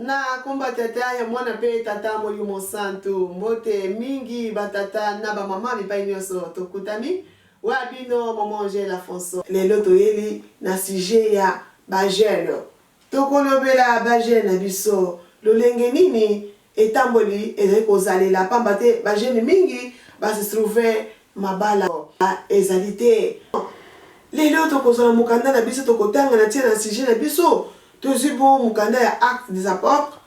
nakomba tata ya mwana mpe tata molimo santu mbote mingi batata na bamama bipai nyonso tokutami wa bino momo angela fonso lelo toyeli na sujet ya bajeune Tokolobela ba jeunes na biso, lolenge nini etamboli ezali kozalela pamba te ba jeunes mingi ba se trouver mabala ezali te. Lelo tokozwa na mokanda na biso tokotanga na tina na sujet na biso, tozwi bongo mokanda ya Actes des Apotres,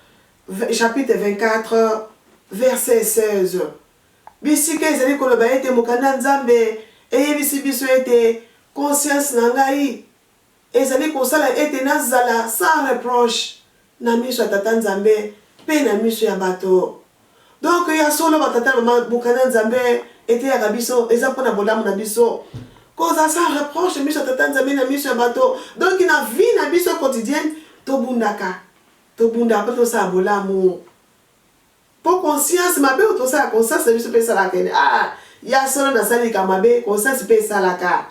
chapitre 24, verset 16. Bisika ezali koloba ete mokanda ya Nzambe eyebisi biso ete, Conscience na ngai, ezali kosala ete nazala sans reproche na miso ya Tata Nzambe mpe na miso ya bato. Donc, ya solo ba tata na mama bokana Nzambe eteyaka biso eza mpo na bolamu na biso kozala sans reproche na miso ya Tata Nzambe na miso ya bato. Donc, na vie na biso quotidienne tobundaka, tobundaka mpo tosala bolamu mpo conscience mabe oyo tosala conscience na biso mpe esalaka ete ah ya solo nasali likambo mabe, conscience mpe esalaka.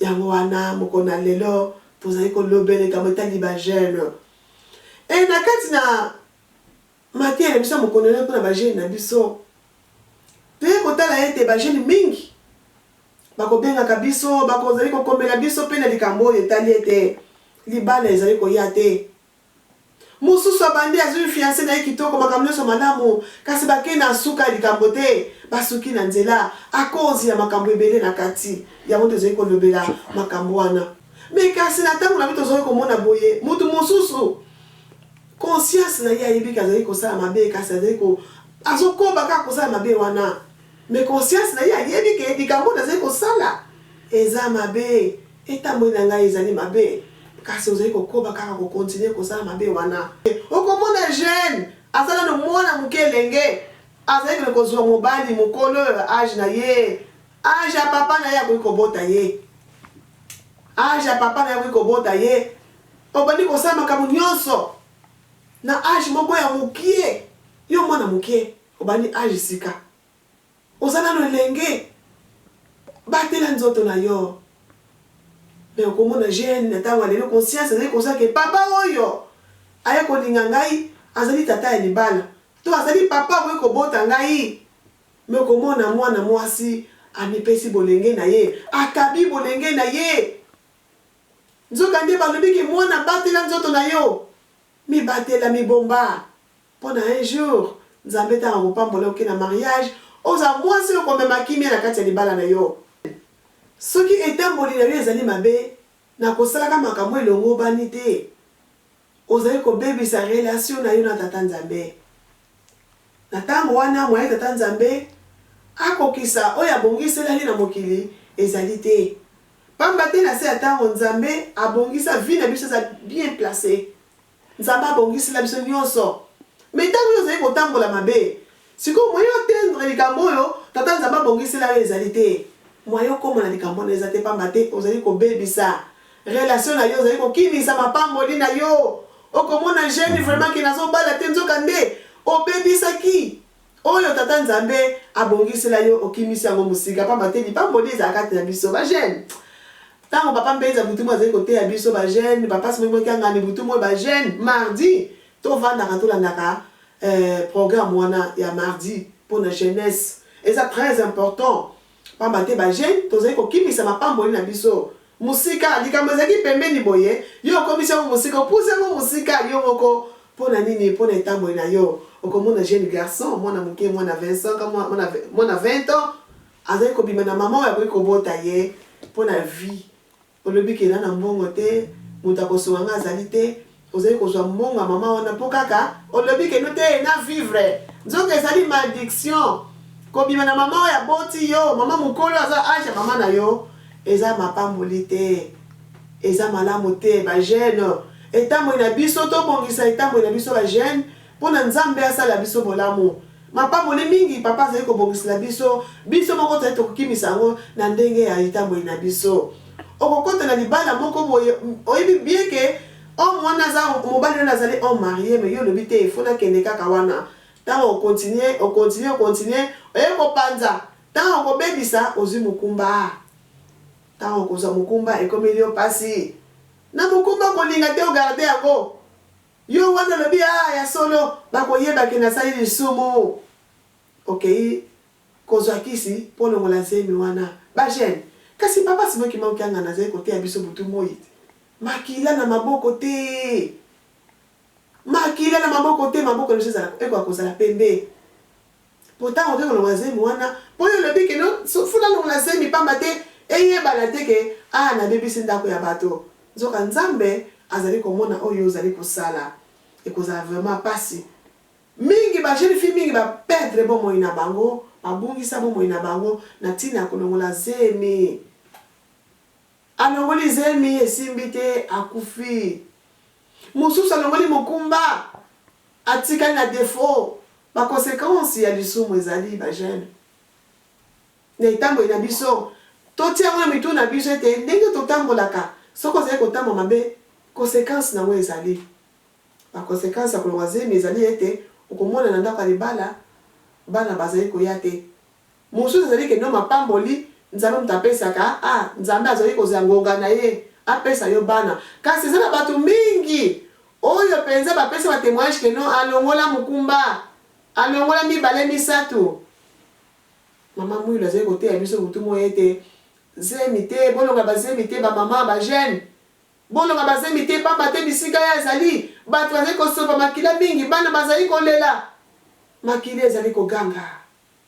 Yango wana, mokolo na lelo, tozali kolobela likambo etali ba-gènes. Ee, na kati na mateya na biso ya mokolo na lelo mpo na ba-gènes na biso, toyei kotala ete ba-gènes mingi bakobengaka biso, bakozali kokomela biso mpe na likambo oyo etali ete libala ezali koya te. Mosusu abandi, azwi fianse na ye kitoko, makambo nyonso malamu, kasi bakei na nsuka ya likambo te, basuki na nzela akozi ya makambo ebele na kati. Yango nde tozali kolobela, makambo wana. Mais kasi na ntango na biso tozali komona boye, moto mosusu, conscience na ye ayebi ke azali kosala mabe, kasi azali ko, azokoba kaka kosala mabe wana. Mais conscience na ye ayebi ke likambo oyo nazali kosala eza mabe. Etamboli na ngai ezali mabe. Kasi ozali kokoba kaka ko continuer kosala mabe wana. Okomona jeune, aza nanu mwana muke elenge, azali kende kozua mobali mokolo ya age na ye, age ya papa na ye akoki kobota ye. Age ya papa na ye akoki kobota ye. Obandi kosala makambo nionso na age moko ya mukie. Yo mwana mukie, obandi age sika. Oza nanu elenge batela nzoto na yo mais okomona jeune na tango ya lelo conscience ezali kosala ke papa oyo aye kolinga ngai azali tata ya libala to azali papa akoki kobota ngai mais okomona mwana mwasi amipesi bolenge na ye akabi bolenge na ye nzoka nde balobi ke mwana batela nzoto na yo mibatela mibomba. Pona un jour Nzambe tango akopambola yo oke na mariage, ozala mwasi oyo okomema kimia na kati ya libala na yo. Soki etamboli na yo ezali mabe na kosalaka makambo oyo elongobani te, ozali kobebisa relation na yo na Tata Nzambe. Na tango wana, moyen Tata Nzambe akokisa oyo abongiselaki na mokili ezali te. Pamba te na se ya tango, Nzambe abongisa vie na biso eza bien placer. Nzambe abongisela biso nionso mais tango yo ozali kotambola mabe sikoyo moyen oteindre likambo oyo tata Nzambe abongisela yo ezali te moyen okoma na likambo wana eza te pamba te ozali kobebisa relation na yo ozali kokimisa mapamboli na yo okomona jeune vraiment ke nazobala te nzoka nde obebisaki Oyo tata nzambe abongisela yo okimisi yango musika pamba te lipamboli ezala kati na biso ba jeune tango papa mbenza butu moyi azali koteya biso ba jeune papa simoki moki angani butu moyi ba jeune mardi to vandaka to landaka eh programme wana ya mardi pona jeunesse eza très important Pamba te ba jeunes tozali kokimisa mapamboli na biso mosika, likambo ezalaki pembeni boye, yo okomisi yango mosika, opusi yango mosika yo moko, po na nini? Po na etamboli na yo. Okomona jeune garçon, mwana moke, mwana 20 ans, mwana, mwana 20 ans, azali kobima na mama oyo akoki kobota ye po na vie, Olobi que nana mbongo te, mutu akosunga nga azali te, ozali kozua mbongo ya maman wana po kaka olobi que no te na vivre, nzoka ezali malediction kobima na maman oyo aboti yo, maman mukolo aza age ya maman na yo eza mapamboli te, eza malamu te, ba jeune etamboli na biso tobongisa etamboli na biso ba jeune. Pona nzambe asala biso bolamu. Mapamboli mingi papa azali kobongisela biso, biso moko tozali tokokimisa yango na ndenge ya etamboli na biso. Okokota na libala moko boye oyebi bien que homme wana aza mobali wana azali homme marie mais yo olobi te il faut nakende kaka wana tango oko continuer o continuer o continuer oye kopanza tango okobebisa ozwi mokumba tango okozwa mokumba ekomeli yo pasi na mokumba kolinga te o garder yango Yo wana olobi aah ya solo bakoyeba ke nasali lisumu okeyi kozwa kisi po olongola zemi wana ba gene kasi papa Simon kimbangu kiangani azali koteya biso butu moyi te makila na maboko te makila na maboko te maboko na biso ekoka kozala pembe Pourtant okoki kolongola zemi wana po yo olobi que non faut nalongola zemi pamba te eyebana te que ah nabebisi ndaku ya bato. Nzoka Nzambe azali komona oyo ozali kosala. Ekozala vraiment pasi mingi ba jeunes filles mingi ba perdre bomoi na bango, babungisa bomoi na bango na tina ya kolongola zemi. Alongoli zemi esimbi te akufi. Mosusu alongoli mokumba. Atikali na defaut, ba consequences ya lisumu ezali ba jeunes na etamboli na biso. Totia yango na mitu na biso ete ndenge totambolaka, soki ozali kotambola mabe, consequence na yango ezali. Ba consequences ya kolongwa zemi ezali ete okomona na ndako ya libala bana bazali koya te. Mosusu ezali ke no mapamboli Nzambe moto apesaka a Nzambe azoki kozela ngonga na ye apesa yo bana. Kasi eza na bato mingi oyo penza bapesi ba temoignage ke no alongola mokumba, alongola mibale misato. Mama Mwilu azali koteya biso butu moyi ete zemi te, bolonga ba zemi te ba mama, ba jeune bolonga ba zemi te pamba te bisika ya ezali bato bazali kosopa makila mingi, bana bazali kolela, makila ezali koganga.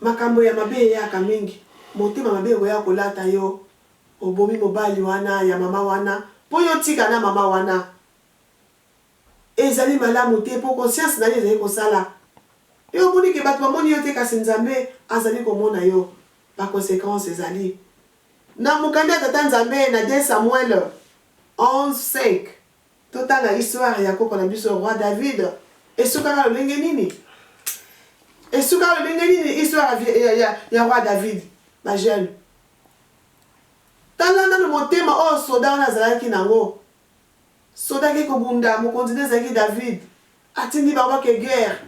Makambo ya mabe eyaka mingi motema mabe ekoya kolata yo obomi mobali wana ya maman wana po yo otika na maman wana ezali malamu te po conscience nayo ezali kosala pe omoni ke batu bamoni yo te kasi nzambe azali komona yo ba consequence ezali na mokanda ya tata nzambe na de Samuel 11 5. Totala histoire ya koko na biso roi David esukaka lolenge nini? Esukaka lolenge nini histoire ya, ya, ya roi David? Ba jeune, tala nanu motema oyo soda wana azalaki nango. Soda ake kobunda, mokonzi nde ezalaki David, atindi bango bake guerre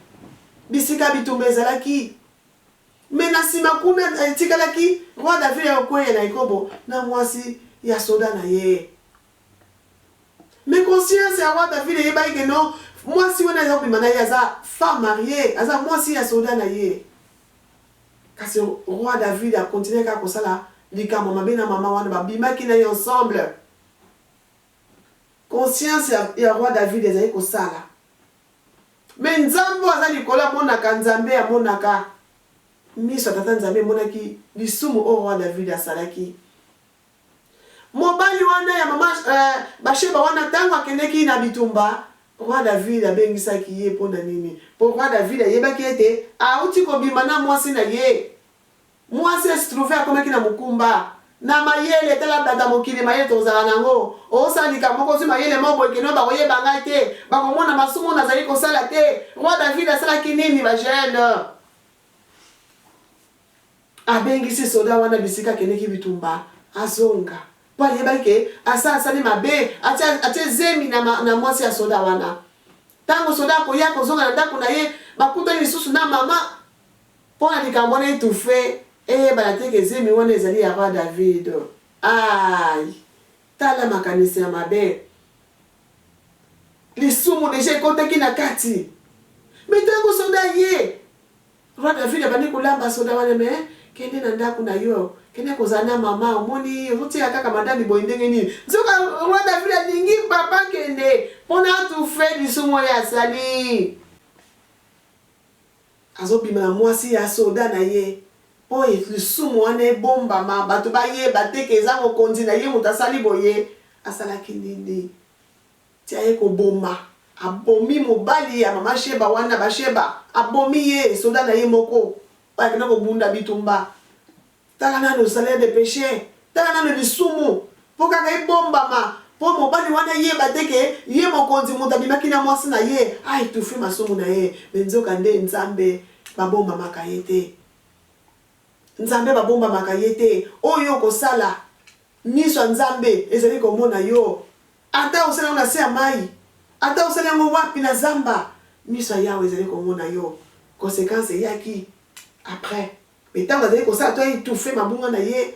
bisika bitumba ezalaki. Mais na sima kuna etikalaki roi David akokueya na ekobo na mwasi ya soda na ye. Mais conscience ya wa David eyebaki que non mwasi wana aza kobima na ye aza femme mariee, aza mwasi ya soda na ye. Kasi roi David a continuaki kaka kosala likambo ya mabe na mama wana, babimaki na ye ensemble. Conscience ya, ya roi David ezalaki kosala. Mais Nzambe oyo aza likolo amonaka, Nzambe amonaka. Miso ya Tata Nzambe emonaki lisumu oyo roi David asalaki. Mobali wana ya mama Basheba wana, tango akendeki na bitumba, Roi David abengisaki ye mpo na nini? Mpo Roi David ayebaki ete auti kobima na mwasi na ye. Mwasi a se trouver akomaki na mokumba. Na mayele, tala tata mokili mayele tokozala na yango. Osala likambo moko, ozwi mayele moko boye, kino bakoyeba ngai te, bakomona masumu oyo nazali kosala te. Roi David asalaki nini, ba jeunes? Abengisi soda wana bisika akendeki bitumba azonga po ayebaki ke asalasali mabe atie atie zemi na na mwasi ya soda wana tango soda akoya kozonga na ndako na ye bakutani lisusu na mama po na likambo wana etufe eyebana te ke zemi wana ezali ya roi David ayi tala makanisi ya mabe lisumu deja ekotaki na kati me tango soda ye Roi David abandi kolamba soda wana mais kende na ndaku na yo kende kozala na maman omoni ozotiela kaka madame boye ndenge nini nzoka roi David alingi papa kende pona atufe lisumu oyo asali azobima na mwasi ya soda na ye po lisumu wana ebombama bato bayeba te ke eza mokonzi na ye moto asali boye asalaki nini Tia ye koboma abomi mobali ya maman sheba wana basheba abomi ye soda naye moko oyo akenda kobunda bitumba tala nanu salaire de peche tala nanu lisumu po kaka ebombama po mobali wana ayeba te ke ye mokonzi mutu abimaki na mwasi naye a etouffe masumu naye mais nzoka nde nzambe babombamaka ye te nzambe babombamaka ye te oyo okosala miso ya nzambe ezali komona yo Ata osali yango na se ya mayi, ata osali yango wapi na zamba, miso ya Yawe ezali komona yo. Consequence eyaki après, mais tango azali kosala to a etouffer mabunga na ye,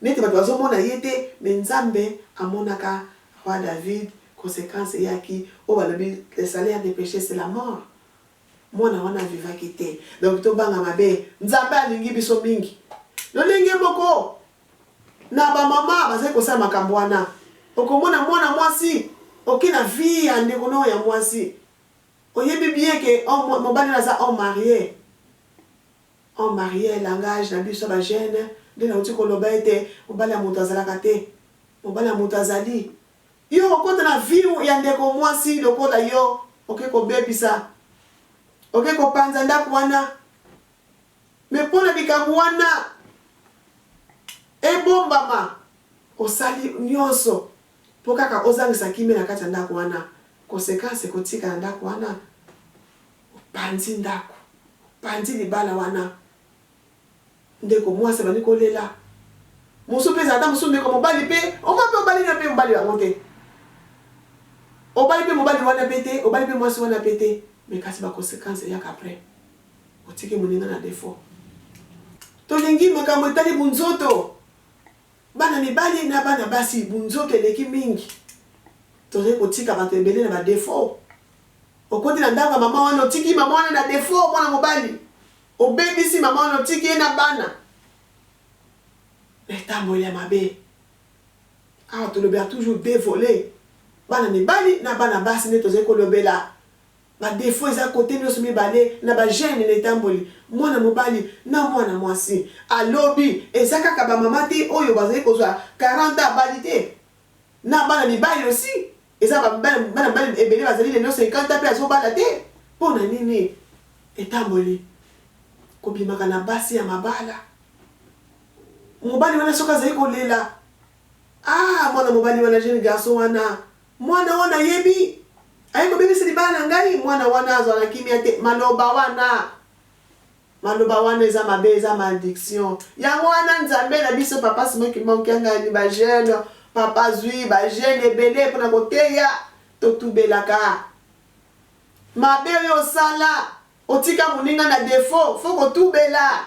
neti batu bazomona ye te, mais Nzambe amonaka Roi David, consequence eyaki oyo balobi le salaire de peche c'est la mort. Mwana wana a vivaki te. Donc tobanga mabe, Nzambe alingi biso mingi. Lolenge moko, Na ba maman bazali kosala makambo wana okomona mwana mwasi oke na vie ya ndeko nao ya mwasi oyebi bien ke homme mobali wana aza homme marie homme marie langage na biso ba jeune nde nauti koloba ete mobali ya moto azalaka te mobali ya moto azali yo okokota na vie ya ndeko mwasi lokola yo oke kobebisa oke kopanza ndaku wana Mais mpo na likambo wana ebombama, osali nyonso mpo kaka ozangisa kimia na kati ya ndako wana. Consequence ekotika na ndako wana, opanzi ndako, opanzi libala wana. Ndeko muasi abandi kolela, mosusu mpe ezala ata mosusu ndeko mobali mpe omoi mpe obali na mpe mobali yango te, obali mpe mobali wana mpe te, obali mpe muasi wana mpe te, mais kasi ba consequence eyaka après. Otiki moninga na defaut. Tolingi makambo etali bunzoto. Bana mibali na bana basi bunzoto eleki mingi. Tozali kotika bato ebele na ba defaut. Okoti na ndako ya mama wana otiki mama wana na defaut mwana mobali. Obebisi mama wana otiki ye na bana na etamboli ya mabe. Awa tolobela toujours deux volets. Bana mibali na bana basi nde tozali kolobela. Ba defaut eza cote nioso mibale na ba gene na etamboli mwana mobali na mwana mwasi a lobi eza kaka ba mama te oyo bazali kozwa 40 ans abali te na bana mibali aussi eza ba bana mibali ebele bazali lelo 50 ans pe azo bala te pona nini etamboli kobimaka na basi ya mabala mobali wana soki azali kolela ah mwana mobali wana gene garçon wana Mwana wana ayebi. Aye kobebisa libala na ngai. Mwana wana azwa na kimia te. Maloba wana. Maloba wana eza mabe, eza malediction. Yango wana Nzambe na biso, Papa Simon Kimbangu Kiangani, ba jeune, Papa azwi ba jeune ebele mpo na koteya. Totubelaka. Mabe oyo osala, otika moninga na defaut, faut kotubela.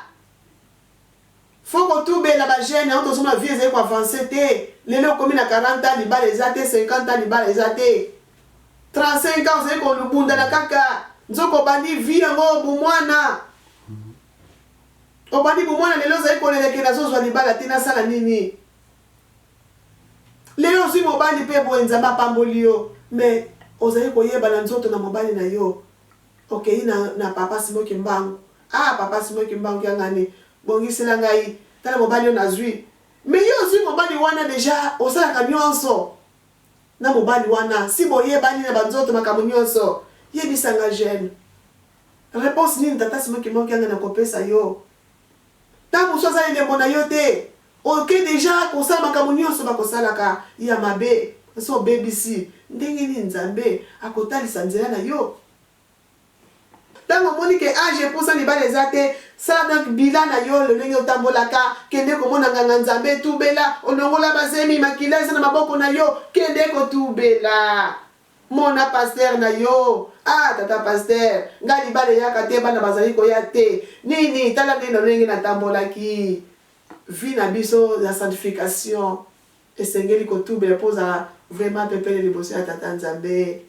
Faut ko tubela ba jeunes yango tozo mona vie ezali ko avancer te lelo okomi na 40 ans libala eza te 50 ans libala eza te 35 ans ozali ko bundana kaka nzoka obandi vie yango bu mwana obandi bu mwana lelo ozali ko leleke na zozwa libala te na sala nini lelo ozwi mobali pe boye nzambe apamboli yo mais ozali koyeba na nzoto na mobali na yo Okeyi na na papa Simon kimbangu ah papa Simon kimbangu ya nga ne bongisela ngai tala mobali oyo nazui mais yo ozui mobali wana dejà osalaka nionso na mobali wana si boyebani na ba nzoto makambo nionso yebisa nga j'aime reponse nini tata Simon kimbangu kianga na kopesa yo Tango mosusu aza elembo na yo te oke dejà kosala makambo nionso bako salaka ya mabe osi obebisi ndenge nini nzambe ako talisa nzela na yo tango omoni ke age epusa libala eza te sala donc bilan na yo lolenge otambolaka kende komona nganga nzambe tubela olongola ba zemi makila eza na maboko na yo kende ko tubela. Mona pasteur na yo. Ah tata pasteur nga libala eyaka te bana bazali koya te nini tala nde lolenge na tambolaki vie na biso ya sanctification esengeli ko tubela po ozala vraiment pepele liboso ya tata nzambe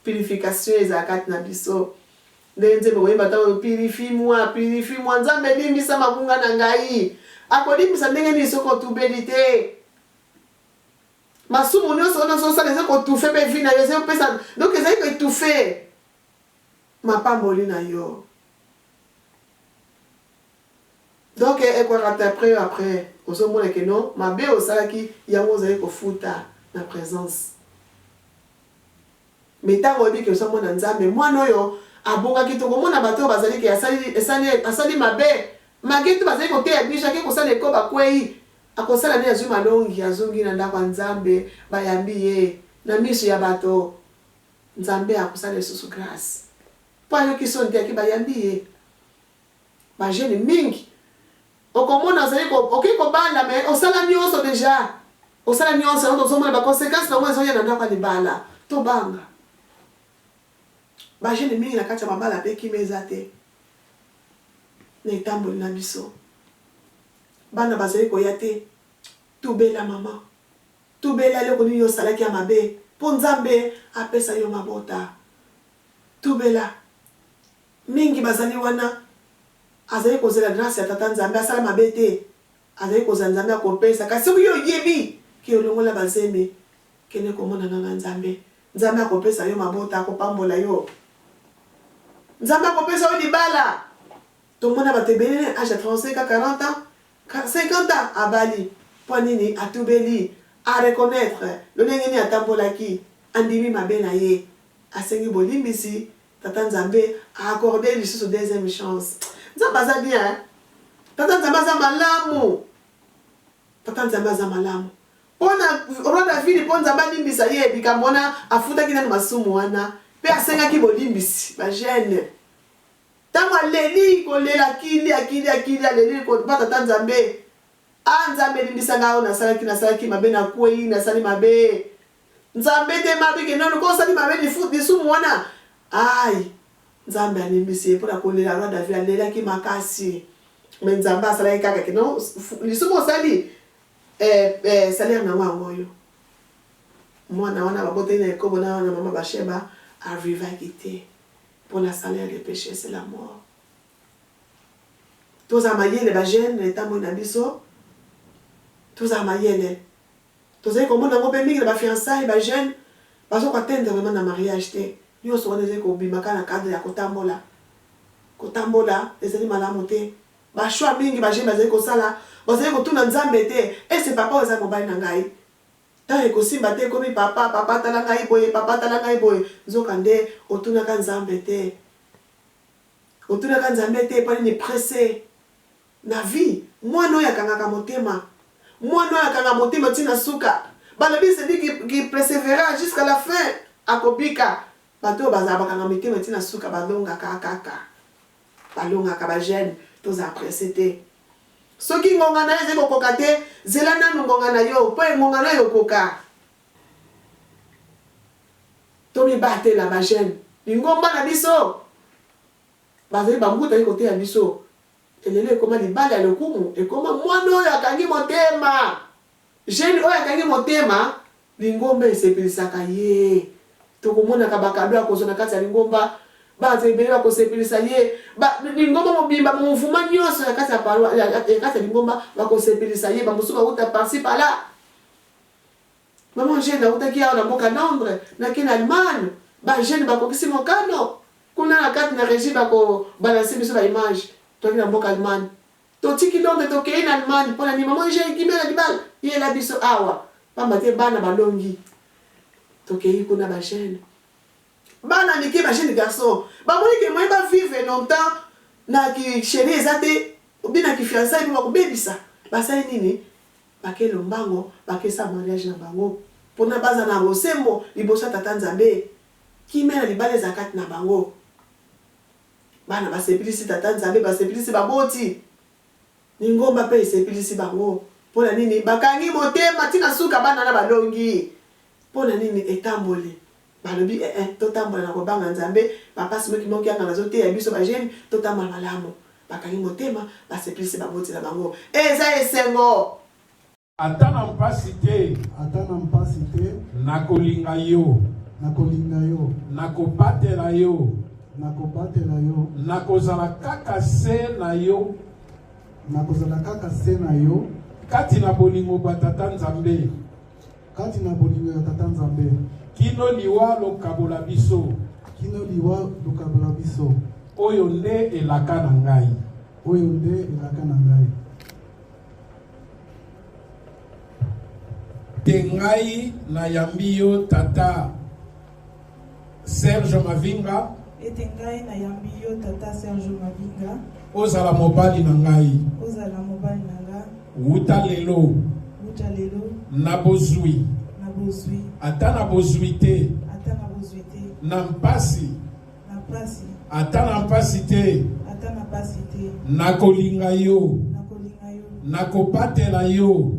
purification ezala kati na biso nde nzembo koyemba ta oyo purifi moi purifi moi nzambe limbisa mabunga na ngai akolimbisa ndenge nini soki otubeli te Masumu nionso wana ozo sala eza ko toufe pe vie na yo ezo pesa donc ezali ko etoufe mapamboli na yo. Donc ekwakata après yo après ozo mona que non mabe osalaki yango ozali ko futa na presence. Mais tango oyebi que oza mwana Nzambe mwana oyo abongaki toko mona bato bazali ke asali esali asali mabe. Magetu bazali koteya biso ake kosala eko bakweyi. Akosala nini azwi malongi azongi na ndako ya nzambe bayambi ye na misu ya bato nzambe akosala lisusu grace po ayoki soni te yake bayambi ye ba jeune mingi okomona ozali okoki kobala me osala nionso deja osala nionso yango tozomona ba consequence nango ezoya na ndako ya libala tobanga ba jeune mingi na kati ya mabala pe kima eza te na etamboli na biso Bana bazali koya te. Tubela maman. Tubela eloko nini osalaki ya mabe po Nzambe apesa yo mabota. Tubela. Mingi bazali wana azali kozela grace ya Tata Nzambe asala mabe te. Azali kozela Nzambe akopesa kasi soki yo oyebi ke olongola ba zemi kende komonana na Nzambe. Nzambe akopesa yo mabota akopambola yo. Nzambe akopesa yo libala. Tomona batu ebele na age ya 35 ans, 40 ans, 50 ans abali pwa nini? Atubeli, a reconnaitre lolenge nini atambolaki, andimi mabe na ye, asengi bolimbisi, Tata Nzambe a accorder ye lisusu deuxième chance. Nzambe aza bien hein! Tata Nzambe aza malamu! Tata Nzambe aza malamu pona Roi David po Nzambe alimbisa ye likambo wana, afutaki nanu masumu wana pe asengaki bolimbisi. Ba jeunes. Tango aleli kolela kilia kilia kilia aleli koba tata nzambe ah nzambe limbisa nga oyo nasalaki nasalaki mabe na kweyi nasali mabe nzambe te mabe ke nanu ko osali mabe lifu lisumu wana ayi nzambe alimbisi ye pona kolela roi david alelaki makasi me nzambe asalaki kaka ke no lisumu osali eh, eh, salaire nango yango oyo mwana wana babotaki na ekobo na wana mama basheba arrivaki te Pour la salaire de peche c'est la mort tozala mayele ba jeune na etamboli na biso tozala mayele tozali komona yango pe mingi na ba fiançailles ba jeune bazo ko atteindre vraiment na mariage te nionso wana ezali kobima kaka na cadre ya kotambola kotambola ezali malamu te ba choix mingi ba jeune bazali kosala bazali kotuna nzambe te est ce papa oyo eza mobali na ngai Temps ekosimba te ekomi papa papa tala ngai boye papa tala ngai boye nzoka nde otunaka nzambe te otunaka nzambe te epa nini presse na vie mwana oyo akangaka motema mwana oyo akanga motema ti na suka balobi celui qui, qui persevera jusqu'à la fin akobika bato oyo bazala bakanga mitema ti na suka balongaka kaka balongaka ba jeune tozala presse te Soki ngonga na yo ezali kokoka te, zela nanu ngonga na yo mpo engonga na yo ekoka. Tomibatela ba jeunes. Lingomba na biso bazali ba mbuta baye koteya biso. Lelo ekoma libala ya lokumu, ekoma muana oyo akangi motema. Jeune oyo akangi motema, lingomba esepelisaka ye. Tokomonaka ba cadeaux akozwa na kati ya lingomba, batu ebele bakosepelisa ye, ba lingomba mobimba, ba mouvements nionso ya kati ya paroi, ya kati ya lingomba bakosepelisa ye, ba mosusu bawuta par ci par là. Maman Jeanne awutaki awa na mboka Londres, na kin Allemagne, ba jeunes bakokisi mokano, kuna na kati na regie bako balancer biso ba images, toyaki na mboka Allemagne. Totiki donc tokei na Allemagne pona nini maman Eugenie kimia na libala yela biso awa pamba te bana balongi tokei kuna ba jeune bana mike ba jeune garçon bamoni ke moyen ba vivre longtemps na ki cherie eza te ou bien na ki fiançailles po bakobebisa basali nini bake lombango bake sa mariage na bango pona baza na bosembo liboso ya tata nzambe kimia na libala ezala kati na bango. Bana basepelisi Tata Nzambe, basepelisi baboti. Lingomba mpe esepelisi bango. Mpo na nini? Bakangi motema tii na suka, bana wana balongi. Mpo na nini? Etamboli. Balobi, Ee, totambola na kobanga Nzambe. Papa Simo Kimoko-Kiangani azoteya biso ba jeunes, totambola malamu. Bakangi motema, basepelisi baboti na bango. Eza esengo! Ata na mpasi te. Ata na mpasi te. Nakolinga yo. Nakolinga yo. Nakobatela yo. Nakobatela yo. Nakozala kaka se na yo. Nakozala kaka se na yo. Kati na bolingo bwa Tata Nzambe. Kati na bolingo ya Tata Nzambe. Kino liwa lokabola biso. Kino liwa lokabola biso. Oyo nde elaka na ngai. Oyo nde elaka na ngai. te ngai nayambi yo tata serge mavinga ete ngai nayambi yo tata serge mavinga ozala mobali na ngai ozala mobali na nga wuta lelo wuta lelo na bozwi na bozwi ata na bozwi te ata na bozwi te na mpasi ata na mpasi te nakolinga yo nakobatela yo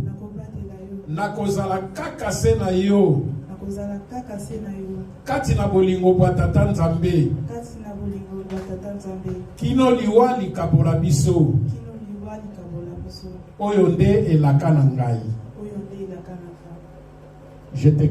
nakozala kaka se na yo kati na bolingo bwa tata nzambe kino liwa likabola biso oyo nde elaka na ngai je te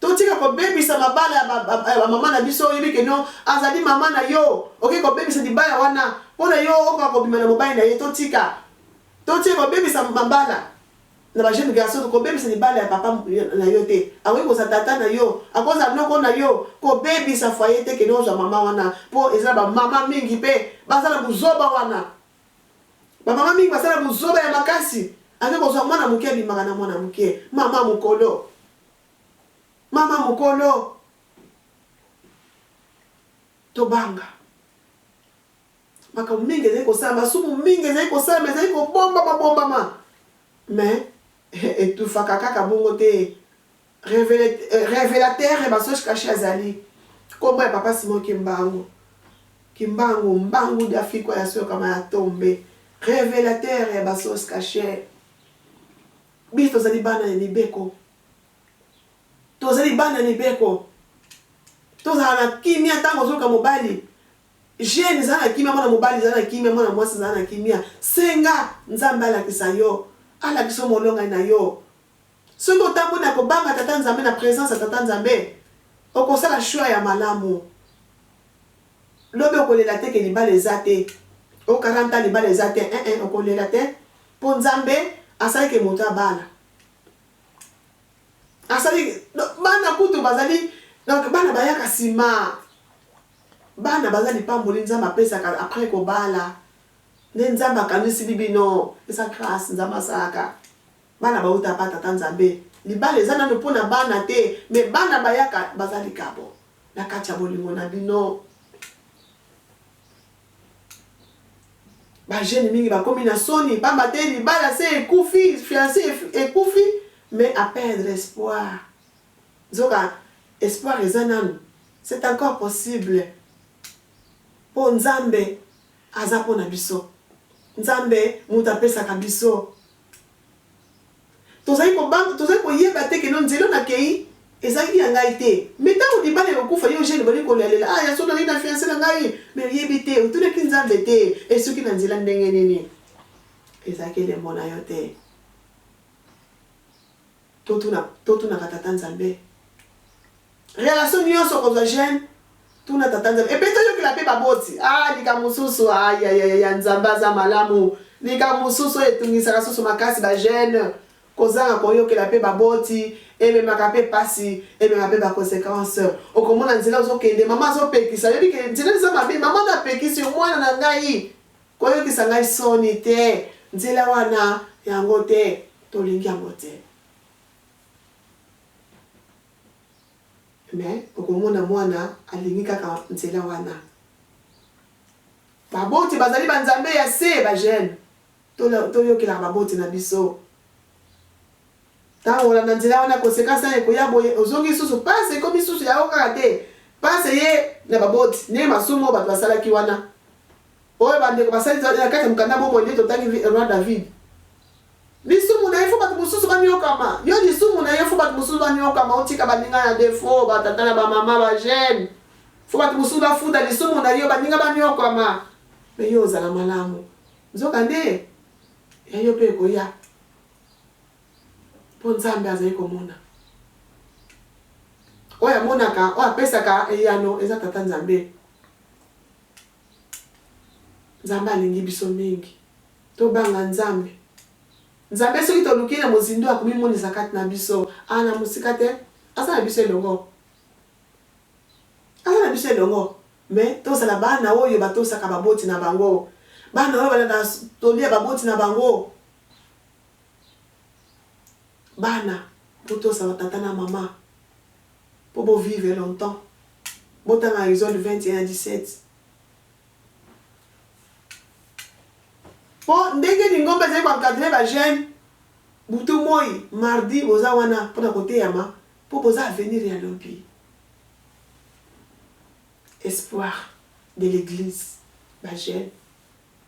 Totika kobebisa mabala ya ba maman na biso oyebi que non azali maman na yo oke kobebisa libala wana pona yo okoka kobima na mobali na ye totika totika kobebisa mabala na ba jeune garçon kobebisa libala ya papa na yo te akoki kozala tata na yo akozala noko na yo kobebisa foyer te que non ozwa maman wana po eza ba maman mingi pe baza na buzoba wana ba maman mingi basala buzoba ya makasi ake kozwa mwana moke abimaka na mwana moke maman mokolo Mama mokolo tobanga makambo mingi ezali kosala masumu mingi ezali kosalama ezali kobombama bombama mais etufaka kaka bongo te revelateur ya basoche kashe azali nkombo ya papa simo kimbangu kimbangu mbangu dafikwa ya soyokama ya tombe revelateur ya basoche kashe Biso tozali bana ya mibeko. Tozali bana ya mibeko. Tozala na kimia tango ozoluka mobali. Jeune zala na kimia mwana mobali zala na kimia mwana mwasi zala na kimia. Senga Nzambe alakisa yo. Alakisa yo molongani na yo. Soki otamboli na kobanga Tata Nzambe na presence ya Tata Nzambe okosala choix ya malamu. Lobi okolela te ke libala eza te o 40 ans libala eza te eeh okolela te po nzambe asali ke moto abala asali donc bana kutu bazali donc bana bayaka sima bana baza lipamboli nzambe apesaka après kobala nde nzambe akanisili bino eza grace nzambe asalaka bana bawuta pa tata nzambe libala eza nanu pona bana te mais bana bayaka baza likabo. Na kati ya bolingo na bino. Ba jeunes mingi bakomi na soni pamba te libala se ekufi, fiance ekufi mais a perdre espoir. Nzoka espoir eza nanu. C'est encore possible po Nzambe aza pona biso. Nzambe mutu apesaka biso. Tozali kobanga, tozali koyeba te que no nzela oyo nakeyi ezalaki ya ngai te. Mais tango libala ekokufa, yo jeune obandi kolialela, ah ya solo nakeyi na fiance na ngai, mais oyebi te, otunaki Nzambe te, esuki na nzela ndenge nini? Ezalaki elembo na yo te. Totuna, totunaka Tata Nzambe. Relation nionso okozwa jeune tuna tata nzambe epe toyokela pe baboti aah likambo mususu ayayaya nzambe aza malamu likambo mususu oyo etungisaka susu makasi ba jeune kozanga koyokela pe baboti ememaka pe pasi emema pe ba consequence okomona nzela ozokende maman azopekisa ayebi ke nzela eza mabe maman na apekisi yo mwana na ngai koyokisa ngai soni te nzela wana yango te tolingi yango te. Mais okomona mwana alingi kaka nzela wana. Baboti bazali ba nzambe ya se ba jeune toyokelaka baboti na biso tango olanda nzela wana consequence nayo ekoya boye ozongi lisusu pasi ekomi lisusu ya yo kaka te pasi eye na baboti nde masumu oyo bato basalaki wana Oyo ba ndeko basali nzela nde na kati ya mokanda Bomoi nde totangi Roi David. Lisumu na ye fo bato mosusu baniokama. Yo lisumu na ye fo bato mosusu baniokama otika baninga na defo, ba tata na ba mama, ba jeune. Fo bato mosusu bafuta lisumu na yo baninga baniokama. Me yo ozala malamu. Nzoka nde ya yo pe ekoya. Po Nzambe azali komona. Oyo amonaka, oyo apesaka eyano eza Tata Nzambe. Nzambe alingi biso mingi. Tobanga Nzambe. Nzambe soki toluki Ye na mozindo akomimonisa kati na biso. A na mosika te. Aza na biso elongo. Aza na biso elongo. Mais tozala bana oyo batosaka baboti na bango. Bana oyo balandaka toli ya baboti na bango. Bana, botosa ba tata na mama po bo vivre longtemps. Botanga Exode 21 a 17. Po ndenge lingomba ezali ko encadrer ba jeunes, butu moyi, mardi, boza wana pona koteyama, po boza avenir ya lobi. Espoir de l'eglise, ba jeunes.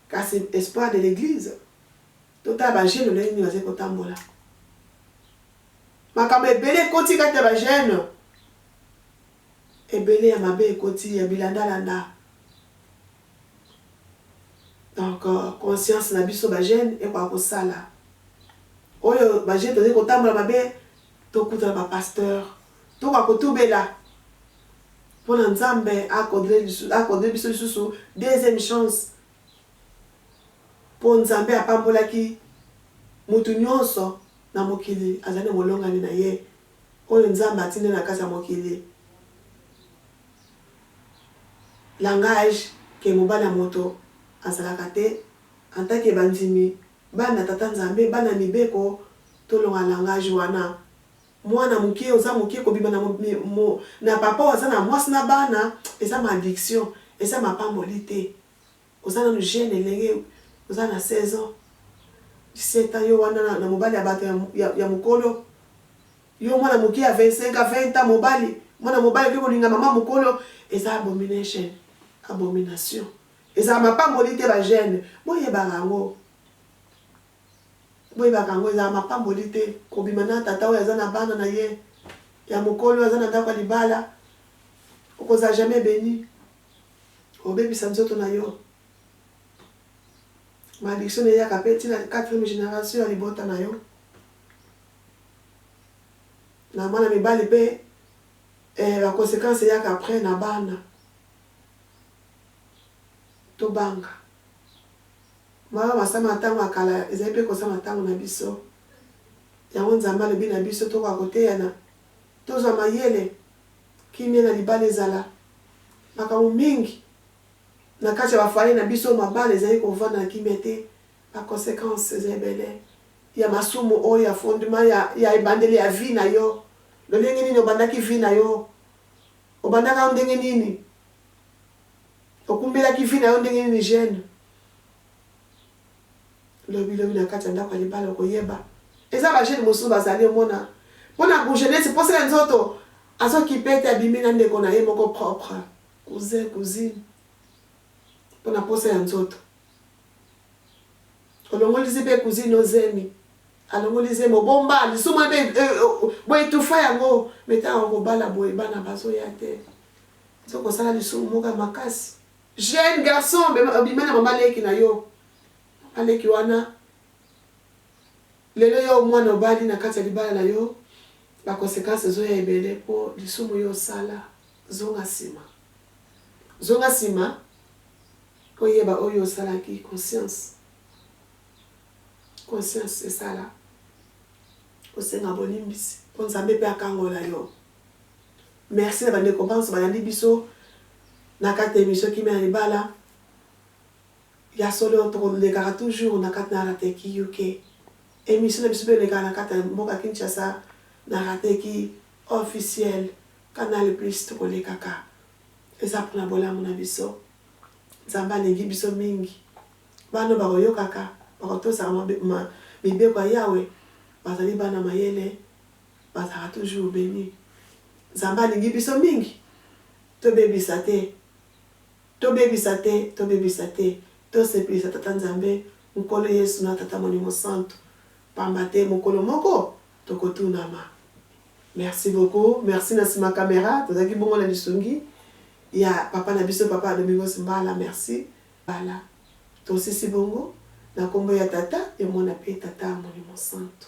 Kasi espoir de l'eglise, totala ba jeunes lolenge nini bazali kotambola. Makambo ebele ekoti kati ya ba jeunes. ebele ya mabe ekoti ya bilanda landa donc conscience na biso ba jeune ekoka kosala oyo ba jeune tozali kotambola mabe tokutana ba pasteur tokoka kotubela mpona nzambe akodre biso lisusu deuxième chance mpo nzambe apambolaki mutu nyonso na mokili azali na molongani na ye oyo Nzambe atindi na kati ya mokili, langage que mobali ya moto azalaka te, en tant que bandimi, bana ya Tata Nzambe, bana ya mibeko, tolonga langage wana. Mwana muke, oza muke, kobima na na papa oyo aza na mwasi na bana, eza malediction, eza mapamboli te. Oza nanu jeune elenge oza na 16 ans 17 ans yo wana na mobali ya batu ya mukolo yo mwana muke ya 25 ans 20 ans mobali mwana mobali oke kolinga maman mukolo eza abomination abomination ezala mapamboli te ba jeune boyebaka yango boyebaka yango ezala mapamboli te kobima na tata oyo aza na bana na ye ya mokolo aza na ndako ya libala okozala jamais beni Obebisa nzoto na yo. Ma addiction eyaka pe ti na quatrième generation ya libota na yo. Na bana mibali pe eh ba consequences eyaka après na bana. Tobanga. Mawa masama ya tango ya kala ezali pe kosama na tango na biso. Yango Nzambe alobi na biso tokoka koteyana, tozwa mayele Kimia na libala ezala makambo mingi na kati ya ba foyer na biso mabala ezali kovanda na kimia te ba consequence eza ebele ya masumu oyo ya fondement ya ya ebandeli ya vie na yo lolenge nini obandaki vie na yo obandaka ndenge nini okumbelaki vie na yo ndenge nini jeune Lobi lobi na kati ya ndako ya libala okoyeba eza ba jeune mosusu bazali omona pona gout jeunesse posa ya nzoto azo kipe te abimi na ndeko na ye moko propre cousin cousine pona posa ya nzoto olongoli zipe cousine no zemi alongoli zemi obomba lisumu ebe e, e, bo etufa yango meta okobala boye bana bazoya te nzokosala lisumu moka makasi Jeune garçon bima na maman leki na yo maman leki wana lelo yo mwana obali na kati ya libala na yo ba consequences ezo ya ebele po lisumu yo osala zonga sima zonga sima oyeba oyo osalaki conscience conscience esala osenga bolimbisi po nzambe pe akangola yo. Merci na ba ndeko banso balandi biso na kati na emission kimia na libala. Ya solo tokolekaka toujours na kati na Rateki UK. Emission na biso pe elekaka na kati na mboka Kinshasa na Rateki officiel canal plus tokolekaka. Eza pona bolamu na biso. Nzambe alingi biso mingi. Bana oyo bakoyokaka, bakotosaka mibeko ya Yawe bazali bana mayele. Bazalaka toujours beni. Nzambe alingi biso mingi. Tobebisa te. Tobebisa te. Tobebisa te. Tosepelisa Tata Nzambe, Nkolo Yesu na Tata Molimo Santu. Pamba te mokolo moko tokotunama. Merci beaucoup. Merci na sima camera. Tozalaki bongo na lisungi ya papa na biso papa Domingos Mbala. Merci. Mbala. Tosisi bongo na kombo ya Tata, ya Mwana pe Tata Molimo Santu.